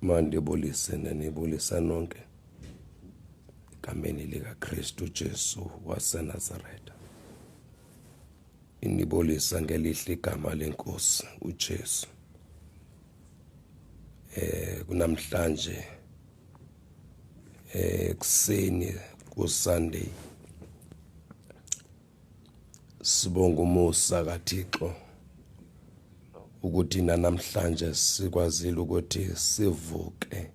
mandibulise nenibulisa nonke egameni likaKristu Jesu waseNazaretha inibulisa ngelihle igama lenkosi uJesu eh kunamhlanje eh kuseni ku Sunday Sibonga umusa kaThixo ukuthi namhlanje sikwazile ukuthi sivuke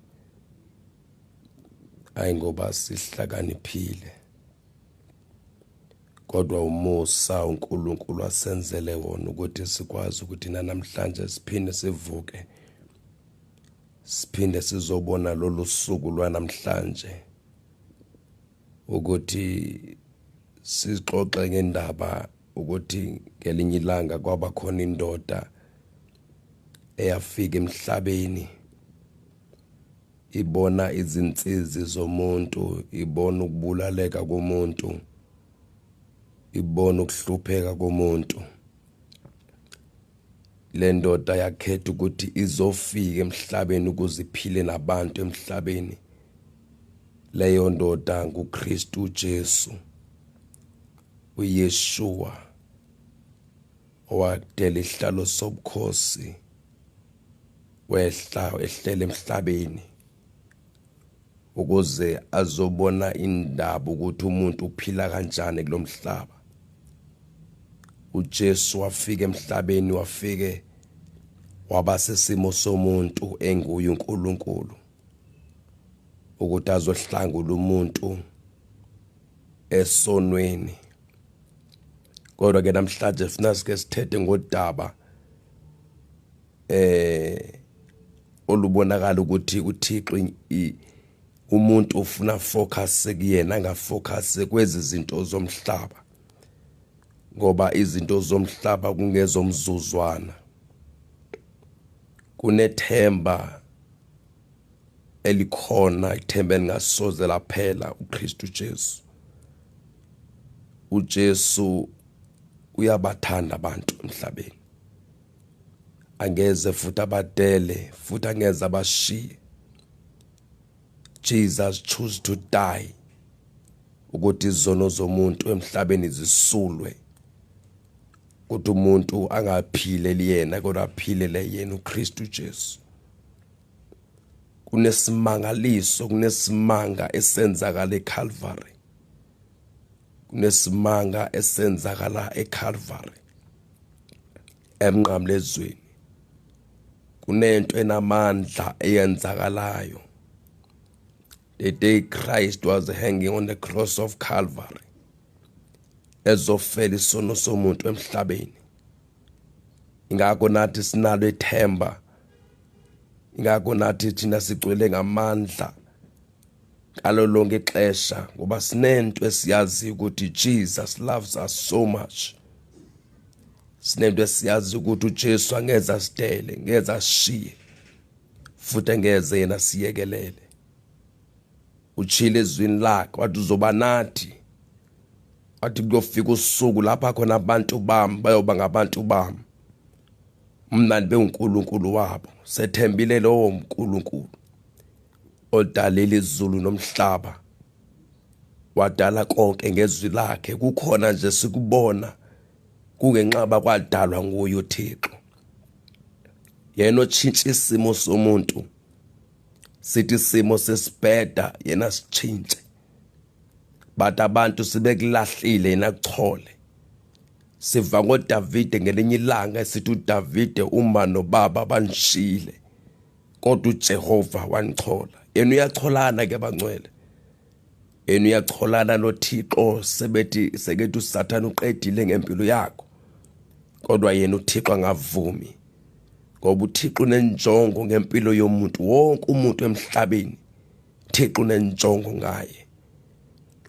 hayi ngoba sihlakaniphile kodwa umusa uNkulunkulu asenzele wona ukuthi sikwazi ukuthi namhlanje siphinde sivuke siphinde sizobona lolu suku lwanamhlanje ukuthi sizixoxe ngendaba ukuthi ngelinye ilanga kwaba khona indoda eyafika emhlabeni ibona izinsizi zomuntu ibona ukubulaleka komuntu ibona ukuhlupheka komuntu le ndoda yakhetha ukuthi izofika emhlabeni ukuze iphile nabantu emhlabeni leyo ndoda nguKristu Jesu uYeshua owakudela isihlalo sobukhosi wehla ehlele emhlabeni ukuze azobona indaba ukuthi umuntu uphila kanjani kulomhlaba uJesu wafika emhlabeni wafike waba sesimo somuntu enguye uNkulunkulu ukuthi azohlangula umuntu esonweni kodwa ke namhlanje sina sike sithethe ngodaba eh olubonakala ukuthi uThixo umuntu ufuna focus kuyena angafocus kwezi zinto zomhlaba ngoba izinto zomhlaba kungezomzuzwana kunethemba elikhona ithemba elingasoze laphela uKristu Jesu uJesu uyabathanda abantu emhlabeni angeze futhi abadele futhi angeze abashiye Jesus choose to die ukuthi izono zomuntu emhlabeni zisulwe ukuthi umuntu angaphileli yena kodwa aphilele yena uKristu Jesu kunesimangaliso kunesimanga esenzakala eCalvary kunesimanga esenzakala eCalvary emnqamlezweni kunento enamandla eyenzakalayo the day Christ was hanging on the cross of Calvary ezofela isono somuntu emhlabeni ingakho nathi sinalo ethemba ingakho nathi thina sigcwele ngamandla ngalo lonke ixesha ngoba sinento esiyaziyo ukuthi Jesus loves us so much sinento esiyaziyo ukuthi uJesu angeze asidele ngeze ashiye futhi angeze yena siyekelele uchile ezwini lakhe wathi uzoba nathi wathi kuyofika usuku lapha khona abantu bami bayoba ngabantu bami mna ndibe uNkulunkulu wabo sethembile lowo mNkulunkulu odalile izulu nomhlaba wadala konke ngezwi lakhe kukhona nje sikubona kungenxaba kwadalwa nguye uThixo yena otshintsha isimo somuntu sithi isimo sesibheda yena sitshintshe but abantu sibekulahlile yena kuchole siva ngoDavide ngelinye ilanga esithi uDavide uma nobaba banishile kodwa uJehova wanichola yena uyacholana ke bangcwele yena uyacholana noThixo sebethi sekethi uSathane uqedile ngempilo yakho kodwa yena uThixo angavumi ngoba uThixo unenjongo ngempilo yomuntu wonke umuntu emhlabeni Thixo unenjongo ngaye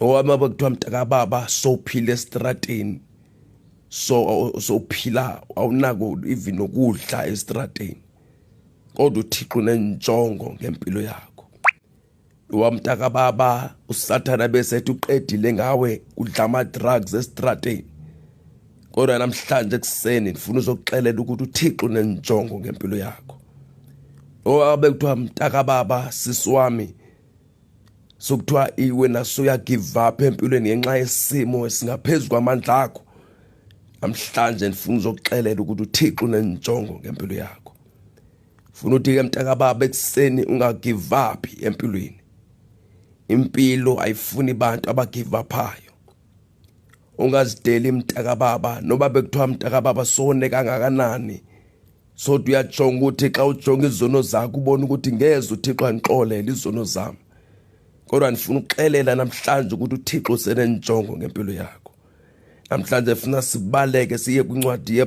owama bekuthiwa mntaka baba sophila estrateni so sophila awunako even ukudla estrateni kodwa uthixo unenjongo ngempilo yakho wamtaka baba usathana bese ethi uqedile ngawe udla ama-drugs esitrateni kodwa namhlanje ekuseni ndifuna uzokuxelela ukuthi uthixo unenjongo ngempilo yakho owabe kuthiwa mtaka baba sisi wami sokuthiwa iwe naso uyagive up empilweni ngenxa yesimo esingaphezu kwamandla akho namhlanje ndifuna uzokuxelela ukuthi uthixo unenjongo ngempilo yakho funa ukuthi ke mntakababa ekuseni ungagive up empilweni impilo ayifuni abantu abagive uphayo ungazideli mntakababa noba bekuthiwa mntakababa sone kangakanani sodwa uyajonga ukuthi xa ujonga izono zakho ubona ukuthi ngeze uthixo andixolele izono zami kodwa ndifuna ukuxelela namhlanje ukuthi uthixo usenenjongo ngempilo yakho namhlanje funa sibaleke siye kwincwadi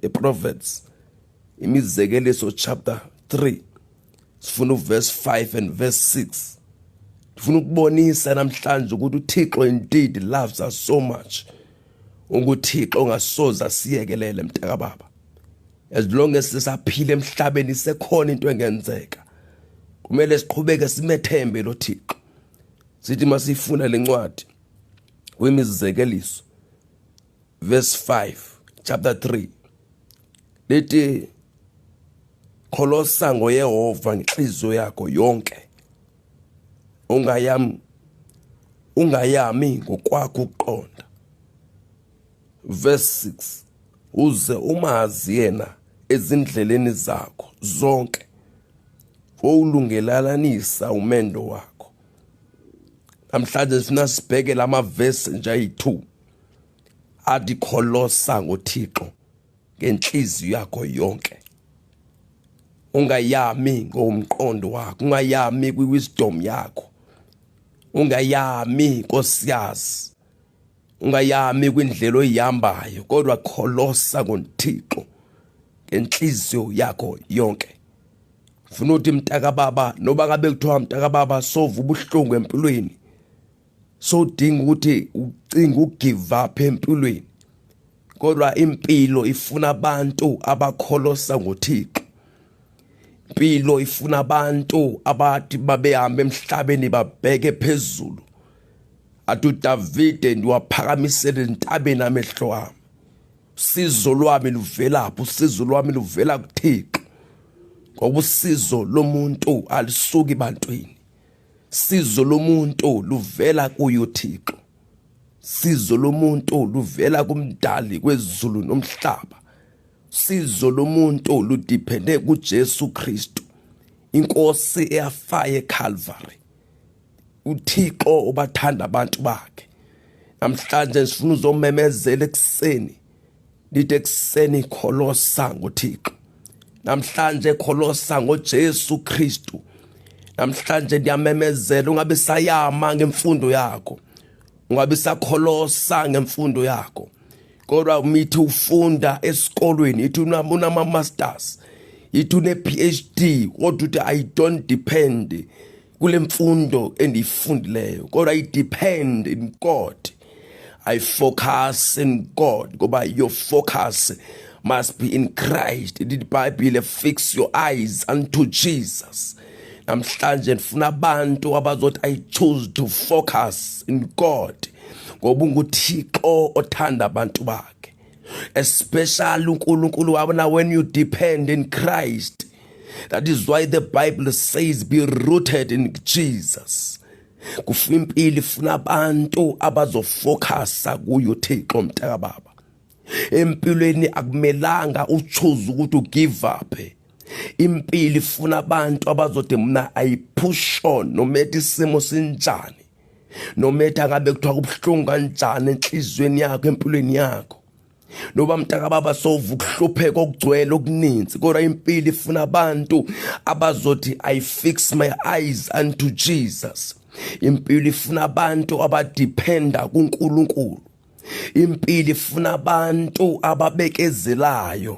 yeproverbs imizekeliso chapter 3 sifuna uverse 5 and verse 6 ndifuna ukubonisa namhlanje ukuthi uthixo indeed loves us so much ukuthixo ongasoze asiyekelele mntakababa as long as sisaphila emhlabeni sekhona into engenzeka kumele siqhubeke simethembe lo thixo sithi masifuna lencwadi wemizekeliso verse 5 chapter 3 lithi kholosa ngoyehova ngenhliziyo yakho yonke ungayam ungayami ngokwakho ukuqonda verse 6 uze umazi yena ezindleleni zakho zonke wowulungelalanisa umendo wakho namhlanje sifuna sibheke lama verse nje ayi2 athi kholosa ngoThixo ngenhliziyo yakho yonke ungayami ngomqondo wakho ungayami kwiwisdom yakho ungayami nkosiyazi ungayami kwindlela oyihambayo kodwa kholosa ngothixo ngenhliziyo yakho yonke funa ukuthi mntakababa noba ngabe kuthiwa mntakababa sova ubuhlungu empilweni sodinga ukuthi ucinga ugive up empilweni kodwa impilo ifuna abantu abakholosa ngoThixo impilo ifuna abantu abathi babehamba emhlabeni babheke phezulu athi uDavide ndiwaphakamisele entabeni amehlo wami usizo lwami luvelaphi usizo lwami luvela kuThixo ngoba usizo lomuntu alisuki bantwini sizo lomuntu luvela kuyo uThixo sizo lomuntu luvela kumdali kwezulu nomhlaba sizo lomuntu ludiphende kuJesu Kristu inkosi eyafaye eCalvary uThixo ubathanda abantu bakhe namhlanje sifuna uzomemezela ekuseni Lite kuseni kholosa ngoThixo. Namhlanje kholosa ngoJesu Kristu. Namhlanje ndiyamemezela ungabe sayama ngemfundo yakho. Ungabe sakholosa ngemfundo yakho. Kodwa umithi ufunda esikolweni ithi unama masters. Ithi une PhD kodwa uthi I don't depend kule mfundo endiyifundileyo kodwa i depend in God I focus in God ngoba your focus must be in Christ the Bible fix your eyes unto Jesus namhlanje ndifuna abantu abazothi i choose to focus in God ngoba unguthixo othanda abantu bakhe especially uNkulunkulu wabo na when you depend in Christ that is why the bible says be rooted in Jesus kufa impilo ifuna abantu abazofocusa kuyo Thixo mtaka baba empilweni akumelanga uchoose ukuthi ugive up impilo ifuna abantu abazothi mina i push on noma ethi isimo sinjani nometha ngabe kuthiwa kubuhlungu kanjani enhliziyweni yakho empilweni yakho noba mntaka baba sova ukuhlupheka okugcwele okuninzi kodwa impilo ifuna abantu abazothi i fix my eyes unto jesus impilo ifuna abantu abadependa kunkulunkulu impilo ifuna abantu ababekezelayo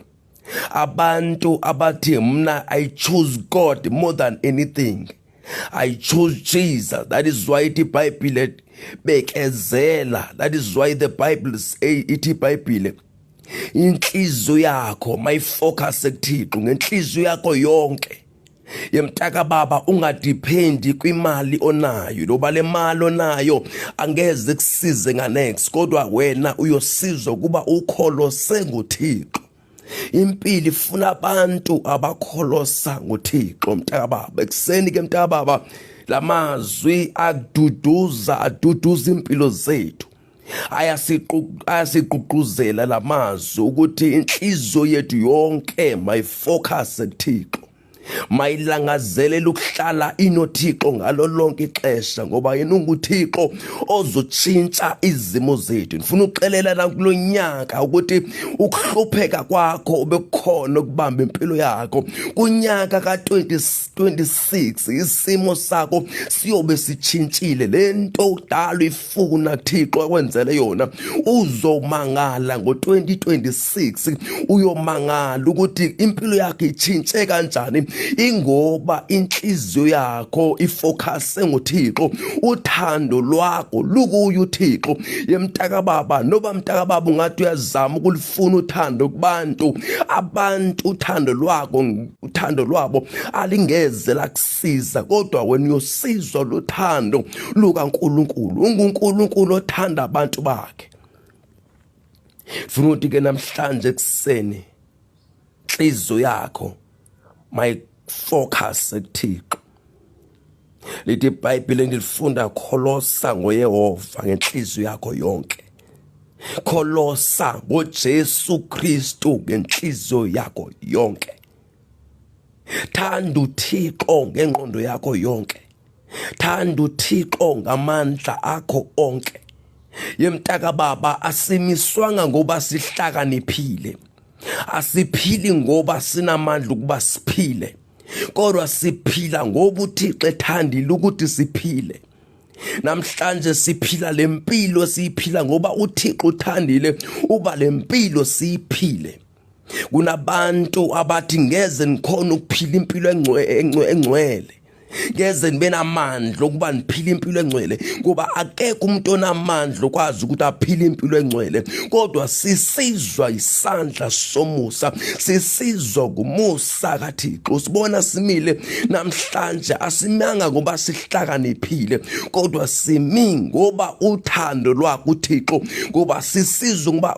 abantu abathi mna i choose god more than anything i choose jesus that is why ithi ibhayibhile bekezela that is why the bible say ithi ibhayibhile inhliziyo yakho mayifocus ekuthixo ngenhliziyo yakho yonke yemtaka baba ungadephendi kwimali onayo loba le mali onayo angeze kusize nganex kodwa wena uyosizwa ukuba ukholose ngothixo impilo ifuna abantu abakholosa ngothixo mtaka baba ekuseni ke mtaka baba lamazwi aduduza aduduza impilo zethu ayasiququzela lamazwi ukuthi inhliziyo yethu yonke mayifocus kuThixo mayilangazelela ukuhlala inothixo ngalo lonke ixesha ngoba yena unguthixo ozotshintsha izimo zethu ndifuna ukuxelela nakulo nyaka ukuthi ukuhlupheka kwakho ubekukhona ukubamba impilo yakho kunyaka ka-2026 isimo sakho siyobe sitshintshile le nto udala funa Thixo akwenzele yona uzomangala ngo2026 uyomangala ukuthi impilo yakhe ichintshe kanjani ingoba inhliziyo yakho ifocus ngoThixo uthando lwakho lukuyo uThixo yemtaka baba noba mtaka baba ungathi uyazama ukulifuna uthando kubantu abantu uthando lwako uthando lwabo alingeze lakusa siza kodwa wena uyosizwa lothando lukaNkuluNkulu unguNkuluNkulu othanda abantu bakhe funa ukuthi ke namhlanje ekseni inhliziyo yakho my focus ekuthixo lithi ibhayibhile engilifunda kholosa ngoyehova ngenhliziyo yakho yonke kholosa ngojesu kristu ngenhliziyo yakho yonke thanda uthixo ngengqondo yakho yonke thanda uthixo ngamandla akho onke yemtaka baba asimiswanga ngoba sihlakaniphile asiphili ngoba sinamandla ukuba siphile kodwa siphila ngoba uthixo ethandile ukuthi siphile namhlanje siphila lempilo siyiphila ngoba uThixo uthandile uba lempilo siyiphile kunabantu abathi ngeze ngikhona ukuphila impilo engcwele ngeze nibe namandla okuba niphile impilo engcwele kuba akekho umuntu onamandla okwazi ukuthi aphile impilo engcwele kodwa sisizwa isandla somusa sisizwa kumusa kaThixo sibona simile namhlanje asimanga ngoba sihlakaniphile kodwa simi ngoba uthando lwakhe uThixo ngoba sisizwa ngoba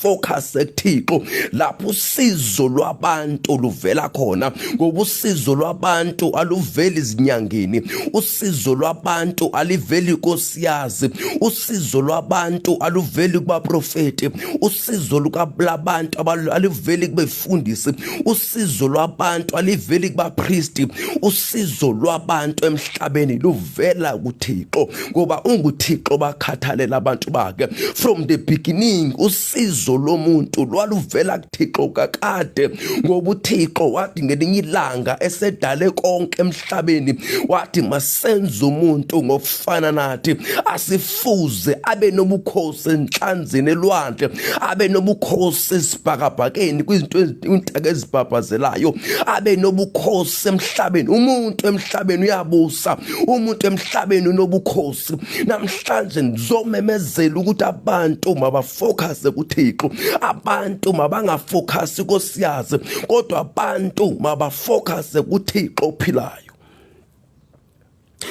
focus ekuthixo lapho usizo lwabantu luvela khona ngoba usizo lwabantu aluveli izinyangeni usizo lwabantu aliveli kosiyazi usizo lwabantu aluveli kubaprofeti usizo lukabantu aluveli kube kubafundisi usizo lwabantu aliveli kubapristi usizo lwabantu emhlabeni luvela kuthixo ngoba unguthixo bakhathalela abantu bakhe from the beginning usizo lomuntu lwaluvela kuthixo kakade ngoba uthixo wathi ngelinye ilanga esedale konke emhlabeni wathi masenze umuntu ngokufana nathi asif fuze abe nobukhosi enhlanzini elwandle abe nobukhosi esibhakabhakeni kwizinto intaka ezibhabhazelayo abe nobukhosi emhlabeni umuntu emhlabeni uyabusa umuntu emhlabeni unobukhosi namhlanje ngizomemezela ukuthi abantu mabafocuse kuThixo abantu mabangafocuse kosiyazi kodwa abantu mabafocuse kuThixo ophilayo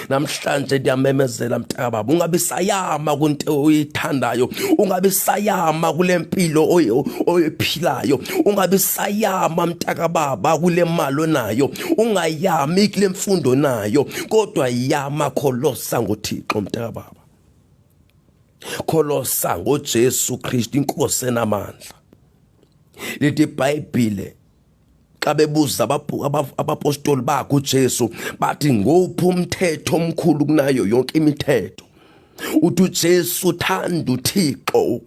namhlanje ndiyamemezela mntakababa ungabi sayama kunto oyithandayo ungabi sayama kule mpilo oyiphilayo ungabi sayama mntakababa kule mali onayo ungayami kule mfundo nayo kodwa yama kholosa ngothixo mntakababa kholosa ngojesu kristu inkosi enamandla lithi ibhayibhile xa bebuza abapostoli bakhe uJesu bathi ngophi umthetho omkhulu kunayo yonke imithetho uthi uJesu uthanda uThixo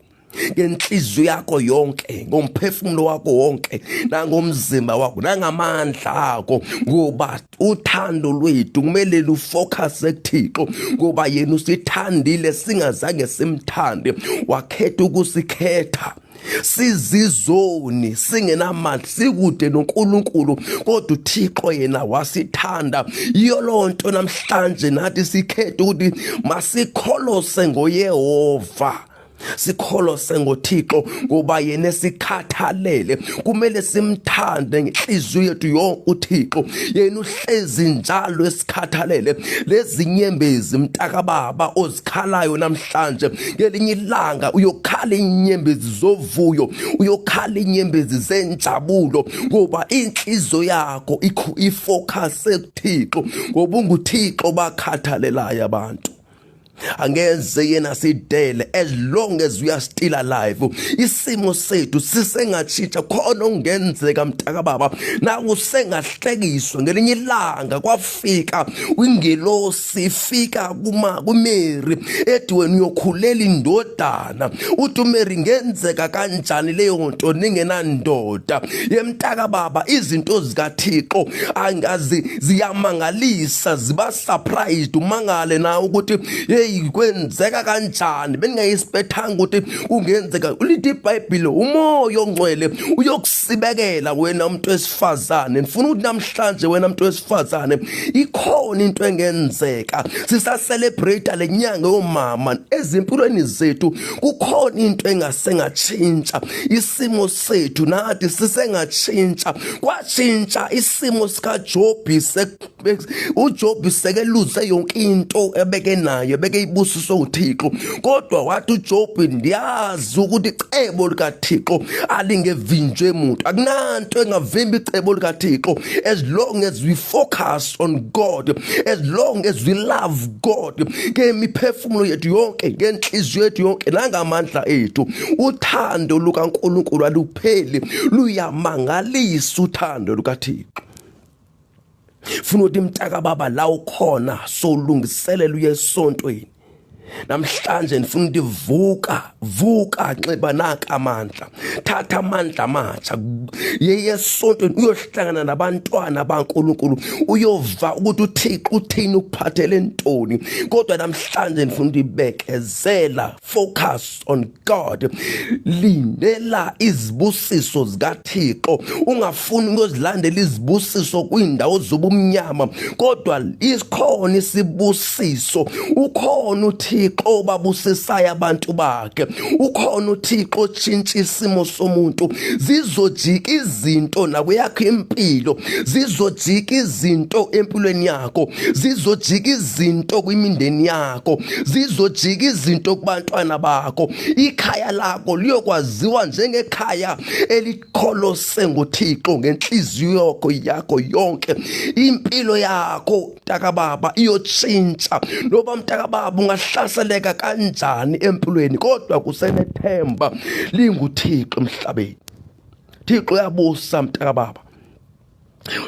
ngenhliziyo yakho yonke ngomphefumulo wakho wonke nangomzimba wakho nangamandla akho ngoba uthando lwethu kumele lufocuse kuThixo ngoba yena usithandile singazange simthande wakhetha ukusikhetha sizizoni singenamandla sikude noNkulunkulu kodwa uThixo yena wasithanda iyo lonto namhlanje nathi sikhethe ukuthi masikholose ngoYehova sikholose ngoThixo ngoba yena sikhathalele kumele simthande ngenhliziyo yethu yonke uThixo yena hlezi njalo esikhathalele lezinyembezi mntakababa ozikhalayo namhlanje ngelinye ilanga uyokhala inyembezi zovuyo uyokhala inyembezi zenjabulo ngoba inhliziyo yakho ifocus ekuthixo ngoba unguthixo bakhathalelayo abantu angeze yena sidele as long as we are still alive isimo sethu sisengatshintsha khona ongenzeka mntaka baba naku sengahlekiswa ngelinye ilanga kwafika ingelosi ifika kuma kumeri ethi wena uyokhulela indodana uthi umeri ngenzeka kanjani leyo nto ningenandoda yemntaka baba izinto zikathixo angazi ziyamangalisa ziba surprised umangale na ukuthi hey kwenzeka kanjani beningayisibethanga ukuthi kungenzeka ulithi ibhayibhile umoya ongcwele uyokusibekela wena umuntu wesifazane ngifuna ukuthi namhlanje wena umuntu wesifazane ikhona into engenzeka sisacelebrate le nyanga yomama ezimpilweni zethu kukhona into engasengatshintsha isimo sethu nathi sisengatshintsha kwatshintsha isimo sikaJobi uJob sekeluse yonke into ebeke nayo ebeke ibusiswe uThixo kodwa wathi uJob ndiyazi ukuthi icebo likaThixo alingevinjwe umuntu akunanto engavimba icebo likaThixo as long as we focus on God as long as we love God ngemiphefumulo yethu yonke ngenhliziyo yethu yonke nangamandla ethu uthando lukaNkulunkulu alupheli luyamangalisa uthando lukaThixo funa ukuthi mtaka baba la ukhona solungiselela uye esontweni namhlanje ndifuna ukuthi vuka vuka nxiba naka amandla thatha amandla amatsha yeye esontweni uyohlangana nabantwana bankulunkulu uyova ukuthi uthixo uthini ukuphathele ntoni kodwa namhlanje ndifuna ukuthi bekezela focus on God lindela izibusiso zikaThixo ungafuni ukuzilandela izibusiso kwindawo zobumnyama kodwa isikhona isibusiso ukhona uThixo obabusisayo abantu bakhe ukhona uThixo otshintsha isimo somuntu zizojika izinto nakweyakho impilo zizojika izinto empilweni yakho zizojika izinto kwimindeni yakho bakho zizojika izinto kubantwana bakho ikhaya lakho liyokwaziwa njengekhaya elikholose ngoThixo ngenhliziyo yakho yakho yonke impilo yakho mntaka baba iyotshintsha noba mntaka baba ungahlaseleka kanjani empilweni kodwa kusenethemba linguThixo emhlabeni Thixo uyabusa mntaka baba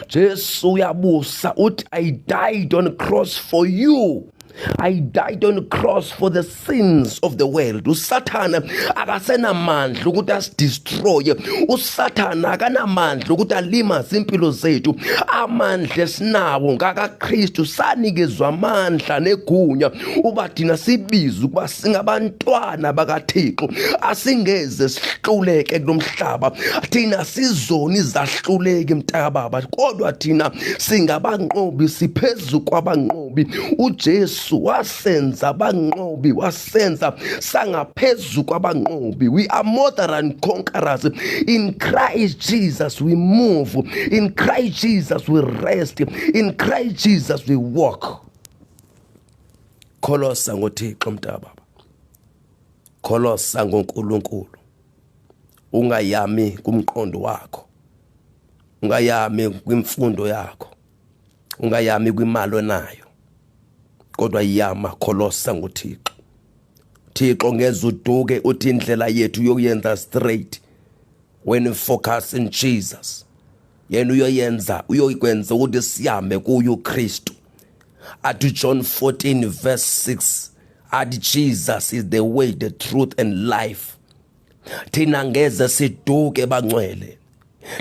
Jesu uyabusa uthi I died on cross for you I died on cross for the sins of the world usathana akasenamandla ukuthi asidestroye usathana akanamandla ukuthi alimaze impilo zethu amandla esinawo ngakaKristu sanikezwa amandla negunya uba thina sibiza ukuba singabantwana bakaThixo asingeze sihluleke kulomhlaba thina sizoni zahluleki mntakababa kodwa thina singabanqobi siphezulu kwabanqobi uJesu wasenza abanqobi wasenza sangaphezulu kwabanqobi we are more than conquerors in Christ Jesus we move in Christ Jesus we rest in Christ Jesus we walk kholosa ngothixo mntaka baba kholosa ngonkulunkulu ungayami kumqondo wakho ungayami kwimfundo yakho ungayami kwimali onayo kodwa yama kholosa ngothixo thixo ngeza uduke uthi indlela yethu yokuyenza straight when you focus in Jesus yena uyoyenza uyokwenza ukuthi sihambe kuye uKristu athi John 14 verse 6 athi Jesus is the way the truth and life thina ngeze siduke bangcwele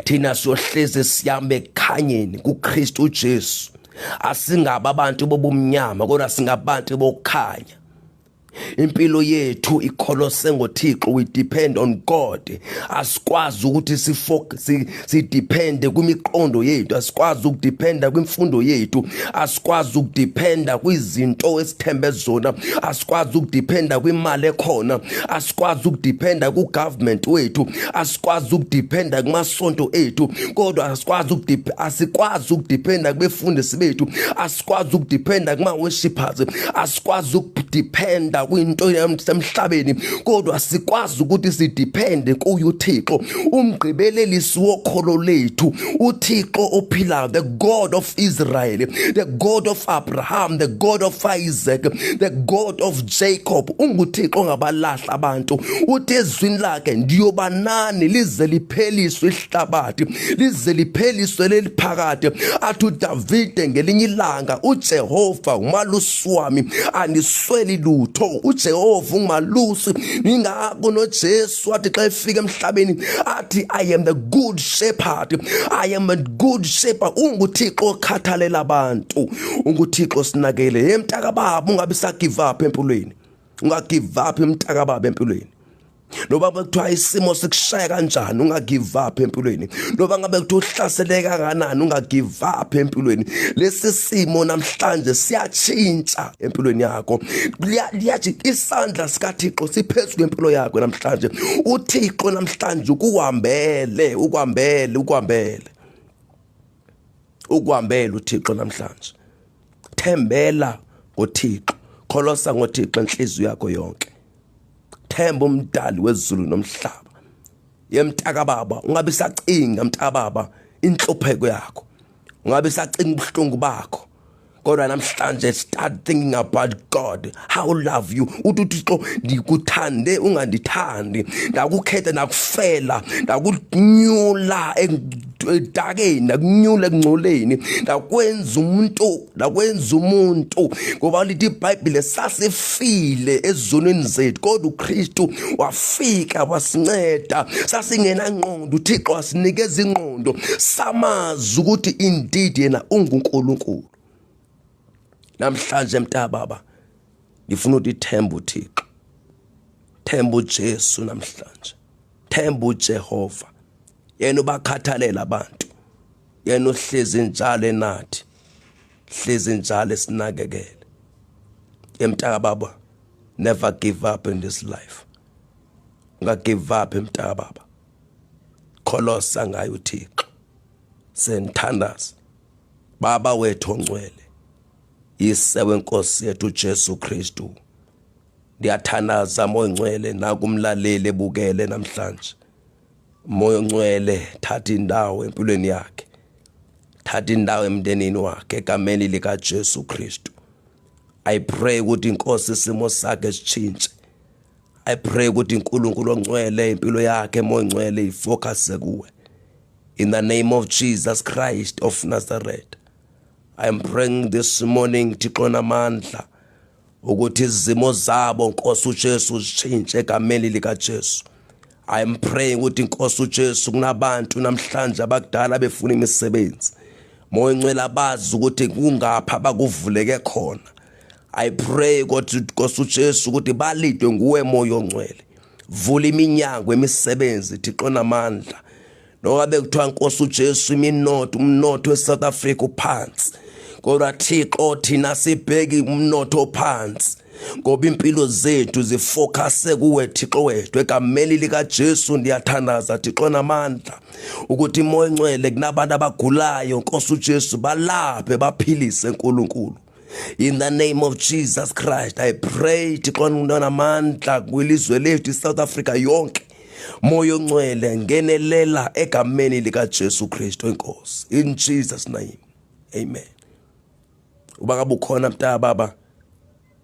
thina siyohlezi sihambe ekhanyeni kuKristu uJesu asingaba abantu bobumnyama kodwa singabantu bokukhanya impilo yethu ikholose ngoThixo we depend on God asikwazi ukuthi sifocus sidepende kwimiqondo yethu asikwazi ukudependa kwimfundo yethu asikwazi ukudependa kwizinto esithembe zona asikwazi ukudependa kwimali ekhona asikwazi ukudependa ku government wethu asikwazi ukudependa kumasonto ethu kodwa asikwazi ukudependa asikwazi ukudependa kubefundisi bethu asikwazi ukudependa kuma worshippers asikwazi ukudependa kwinto yasemhlabeni kodwa sikwazi ukuthi sidepende kuye uThixo umgqibelelisi wokholo lethu uThixo ophilayo the God of Israel the God of Abraham the God of Isaac the God of Jacob unguThixo ongabalahla abantu uthi ezwini lakhe ndiyobanani lize lipheliswe hlabathi lize lipheliswe leliphakade athi uDavide ngelinye ilanga uJehova umalusi wami anisweli lutho uJehova ungimalusi ngingako noJesu athi xa efika emhlabeni athi I am the good shepherd I am a good shepherd unguThixo okhathalela abantu unguThixo sinakele yemntaka baba ungabe sa give up empilweni unga give up emntaka baba empilweni noba ngabe kuthiwa isimo sikushaya kanjani ungagive up empilweni noba ngabe kuthiwa uhlaseleke kanganani ungagive up empilweni lesi simo namhlanje siyatshintsha empilweni yakho liyathi isandla sikathixo siphezu kwempilo yakho namhlanje uthixo namhlanje ukuhambele ukuhambele ukuhambele ukuhambele uthixo namhlanje thembela ngothixo kholosa ngothixo enhliziyo yakho yonke themba umdali wezulu nomhlaba yemtaka baba ungabe sacinga mtaka baba inhlupheko yakho ungabe sacinga ubuhlungu bakho kodwa namhlanje start thinking about god how love you uthi uthixo ndikuthande ungandithandi ndakukhetha ndakufela ndakunyula edakeni ndakunyula ekungcoleni ndakwenza umuntu nakwenza umuntu ngoba lithi ibhayibhile sasifile ezonweni zethu kodwa ukristu wafika wasinceda sasingenangqondo uthixo wasinikeza ingqondo samazi ukuthi indeed yena ungunkulunkulu namhlanje mntababa ngifuna ukuthi themba uthixo themba ujesu namhlanje themba ujehova yena ubakhathalela abantu yena uhlezi njalo enathi hlezi njalo esinakekele emtaka baba never give up in this life unga give up emtaka baba kholosa ngayo uThixo senthandaza baba wethu ongcwele yise wenkosi yethu Jesu Kristu ndiyathanaza moyingcwele nakumlaleli ebukele namhlanje moya ongcwele thatha indawo empilweni yakhe thatha indawo emndenini wakhe egameni likaJesu Kristu i pray ukuthi inkosi isimo sakhe sitshintshe i pray ukuthi uNkulunkulu ongcwele impilo yakhe moya ongcwele ifocus kuwe in the name of Jesus Christ of Nazareth i am praying this morning thixo namandla ukuthi izimo zabo Nkosi uJesu zishintshe egameni lika Jesu I am praying ukuthi Nkosi uJesu kunabantu namhlanje abakudala befuna imisebenzi moya incwela bazi ukuthi kungapha bakuvuleke khona I pray ukuthi Nkosi uJesu ukuthi balidwe nguwe moya ongcwele vula iminyango emisebenzi thixo namandla Nokabe kuthiwa Nkosi uJesu iminotho umnotho weSouth Africa uphansi. Kodwa Thixo thina sibheki umnotho ophansi. ngoba impilo zethu zifocuse kuwe Thixo wethu egameni lika Jesu ndiyathandaza Thixo namandla ukuthi imoya encwele kunabantu abagulayo Nkosi uJesu balaphe baphilise uNkulunkulu in the name of jesus christ i pray thixo ndinamandla kwilizwe lethu isouth africa yonke moya oncwele ngenelela egameni likajesu kristu enkosi in jesus name amen uba ngabe ukhona mntana baba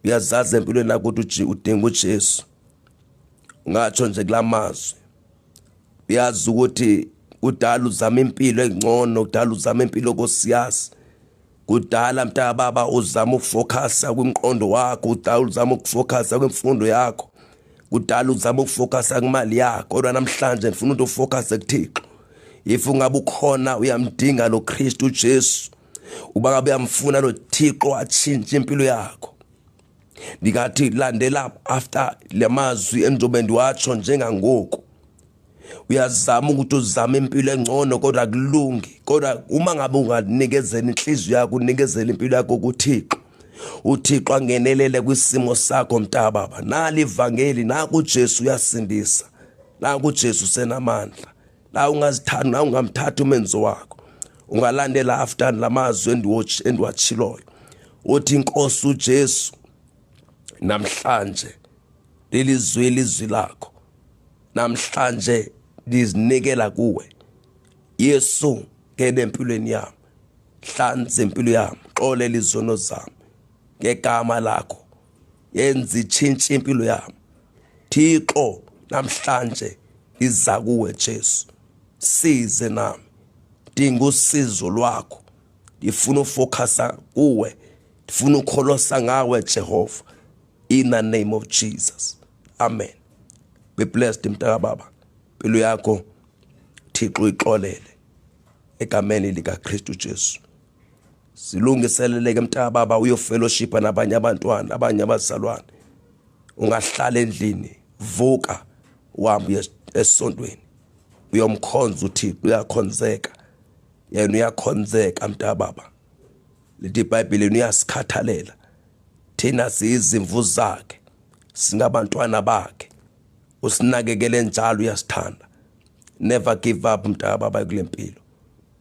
uyazazi empilweni nakuthi udinga ujesu ngatsho nje kula mazwi uyazi ukuthi kudala uzama impilo engcono kudala uzama impilo kosiyazi kudala mntaka baba uzama ukufocusa kwimqondo wakho kudala uzama ukufocusa kwimfundo yakho kudala uzama ukufocusa kumali yakho kodwa namhlanje ndifuna ukuthi ufocusa kuThixo if ungabe ukhona uyamdinga lo Kristu Jesu uba kabe uyamfuna lo Thixo atshintshe impilo yakho ndingathi landela after le mazwi endizobe ndiwatsho njengangoku uyazama ukuthi uzame impilo engcono kodwa kulungi kodwa uma ngabe unganikezela inhliziyo yakho unikezela impilo yakho kuthixo uthixo angenelele kwisimo sakho mntababa nali ivangeli naku ujesu uyasindisa naku ujesu usenamandla la ungazithanda na ungamthatha umenzo wakho ungalandela after lamazwi endiwatch endiwachiloyo uthi inkosi uJesu namhlanje leli zwi lizwi lakho namhlanje ndizinikela kuwe Yesu ngene empilweni yami hlanza impilo yami xolela izono zami ngegama lakho yenza itshintshe impilo yami thixo namhlanje iza kuwe jesu size nami dinga usizo lwakho ndifuna ufokhasa kuwe ndifuna ukholosa ngawe jehova in the name of jesus amen be blessed mntakababa impilo yakho thixo uyixolele egameni likakristu jesu Silungiseleleke mntaka baba uyofellowshipa nabanye abantwana abanye abazalwane ungahlala endlini vuka uhambe esontweni uyomkhonza uthixo uyakhonzeka yena uyakhonzeka mntaka baba lithi ibhayibhile uyasikhathalela thina siyizimvu zakhe singabantwana bakhe usinakekele njalo uyasithanda never give up mntaka baba kule mpilo